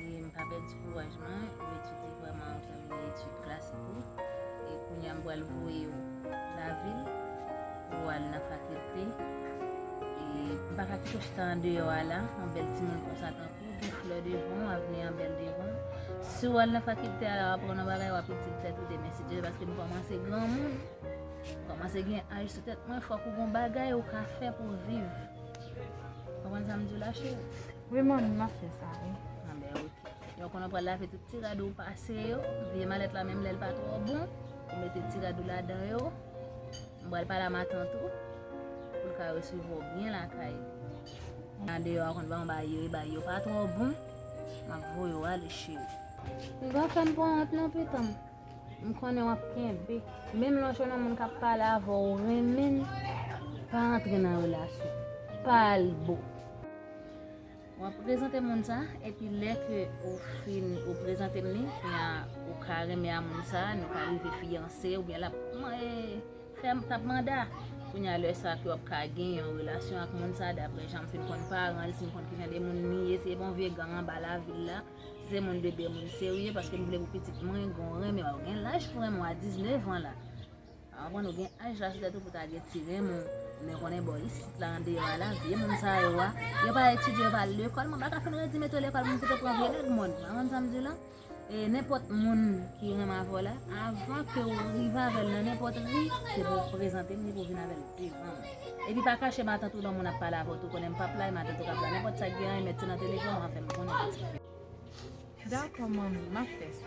E m pa pèdi kouraj mwen, ou etidye vrèman, ou tèmine etid klasik ou, e kounye a m pral voye ou lavil pou w al nan fakilte. E m pa ka kite w chita andeyò a la, yon bèl timoun konsa tankou w, gen flè devan w, avni an bèl devan w. Si w al nan fakilte a la, w aprann yon bagay, w ap itil tèt ou demen si Dye vle paske m kòmanse granmoun, m kòmanse gen aj sou tèt mwen, fòk ou gen yon bagay ou ka fè pou w viv. Konprann sa m di w la cheri? Wi mami map fè sa wi. An ben ok. Yon konnen pral lave tout ti rad ou pase yo. Vye malèt la menm lèl pa tro bon. Ou mete ti rad ou la dan yo. M pral pale a matant ou. Pou l ka resevwa ou byen lakay. An deyò a konn ban bay yo e bay yo pa tro bon. Map voye ou ale cheri. M pa fèm pran wont non pitanm. M konnen wap kenbe. Menm lè w jwenn yon moun kap pale avè w ou renmen l. Pa antre nan relasyon. Pa al bo. Wap prezante moun sa epi lè ke ou fin ou prezante li kounya ou ka renmen a moun sa nou ka rive fiyanse oubyen lap fè tap manda kounya lè sa ke wap ka gen yon relasyon ak moun sa daprè janm fin konn paran li si m konn ki jan de moun li ye se bon vye gang anba lavil la si se moun de byen moun serye paske m vle pou pitit mwen gen w renmen wap gen laj pou renmen w a 19 an la. Avan nou gen aj la se tèt ou pou ta gen ti rim ou men konnen bò isit la andeyò a la vye moun sa yo a yo pa etidye yo pa al lekòl mwen pa ka fin redi mete w lekòl pou m kite pran vye nèg mòn ou konn sa m di w la e nenpòt moun ki renmen avè w la avan ke w rive avè l nan nenpòt ri se pou w prezante m li pou w vin avè l devan m epi pa kache matant ou nan moun ap pale avè w tou konnen m pap la e matant ou kap la nenpòt sa k gen an e mèt se nan telefòn w a fè m konnen pitit fi m. Dakò manmi m ap fè sa.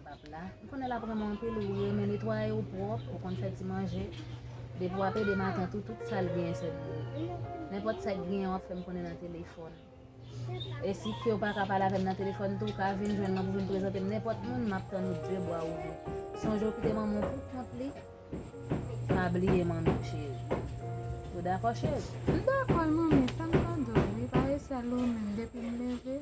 Pap la. M konnen lap renmen w anpil wi e men netwaye w pwòp, ou konn fè ti manje. Depi w ap ede matant ou tout sa l genyen se pou ou. Nenpòt sa ki genyen w ap fè m konnen nan telefòn. E si ke w pa ka pale avè m nan telefòn tou, w ka vin jwenn mwen pou vin prezante m nenpòt moun, m ap tann ou de bwa ouvri. Sonje w kite manman w pou kont li, pa bliye manmi w cheri. Ou dakò cheri? M dakò manmi, fè m tande w wi, pa resi al ou menm depi m leve.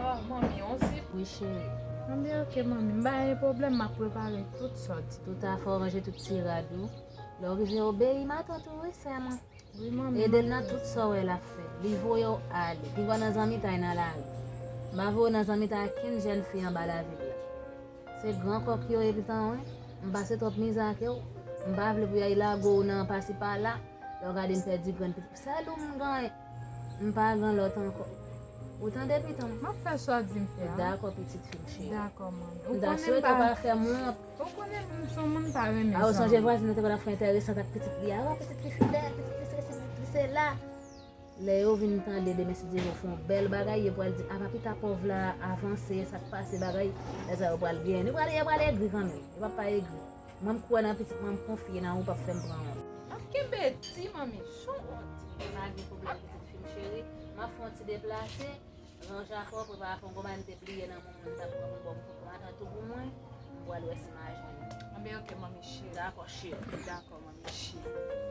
Ah manmi on zip wi cheri. Anben ok manmi m pa gen pwoblèm map prepare tout sòt. Tout afè w ranje tout ti rad ou. Lè w rive obeyi matant ou wi sè mwen. Wi manmi. Ede l nan tout sa w wè lap fè. Li voye w ale. Li voye w nan zanmitay nan lari. M pa voye w nan zanmitay ak kenn jèn fi anba lavil la. Se gran kò ki oye pitan w wi. M pase twòp mizè ake w. M pa vle pou yay lago w nan pasi pala. Lè w gade m pèdi grenn pitit. Sèl ou m genyen. M pa gan lòt ankò. Ou tande pitom? M ap fè sa w di m fè a. Dakò pitit fi m cheri. Dakò manmi. M ta swete w pa fè m wont. Ou konnen m s on moun m pa renmen sa. A ou sonje vwazin nan te konn ap fè entèresant ak pitit li a? O pitit li fidèl, pitit li sesi, pitit li sela. Lè yo vin tande demen si Dye vle yo fè yon bèl bagay, yo pral di apa pita pòv la avanse, sa k pase bagay. Lè sa yo pral byen. Yo pral egri kanmenm. Yo p ap pa egri. Mwen kwè nan pitit mwen mkonfye nan ou pap fèm pran wont. Map kenbe di manmi chou on di. Pa gen pwoblèm pitit fim cheri. Map fè yon ti deplase, ranje afè w, prepare afè w gonbay m te bliye nan moman m tap pran pou m ba w kout pran atann tou pou mwen, m pwal wè si m a jwenn li. Anben ok manmi cheri. Dakò cheri. Dakò manmi cheri.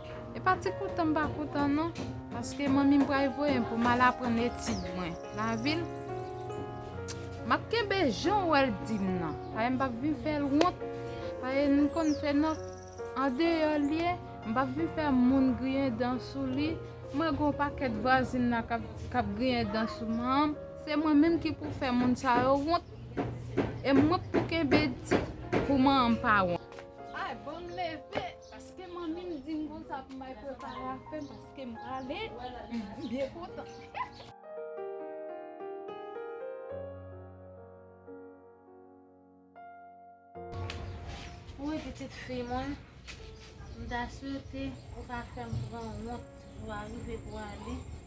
E pa ti kontan m pa kontan non, paske manmi m pral voye m pou m al aprann etid mwen lavil. M ap kenbe jan w wè l di m nan, paske m p ap vin fè l wont, paske m konn fè nòt andeyò l ye, m p ap vin fè moun griyen dan sou li. Mwen gen yon pakèt vwazin la k ap griyen dan sou man m, se mwen menm ki pou fè moun sa yo wont, e mwen k pou kenbe di pou man m pa wont. Ay bon m leve! Paske manmi m dim konsa pou m bay prepare afem paske m prale m byen kontan. Wouyy pitit fi mwen m ta swete ou pa fem pran wont jou a rive pou ale.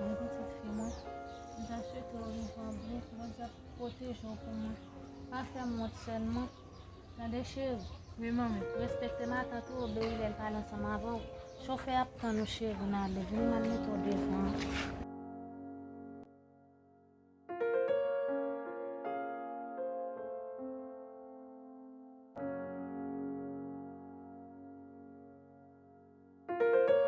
Mwen pitit fi mwen, mwen ta swete w viv an ble, Bondye ap pwoteje w pou mwen. Pa fè m wont sèlman. Tande cheri. Wi manmi. Respekte matant ou, obeyi lè l pale ansanm avè w. Chofè a ap tann ou cheri nan ale. Vini nan mete w devan an.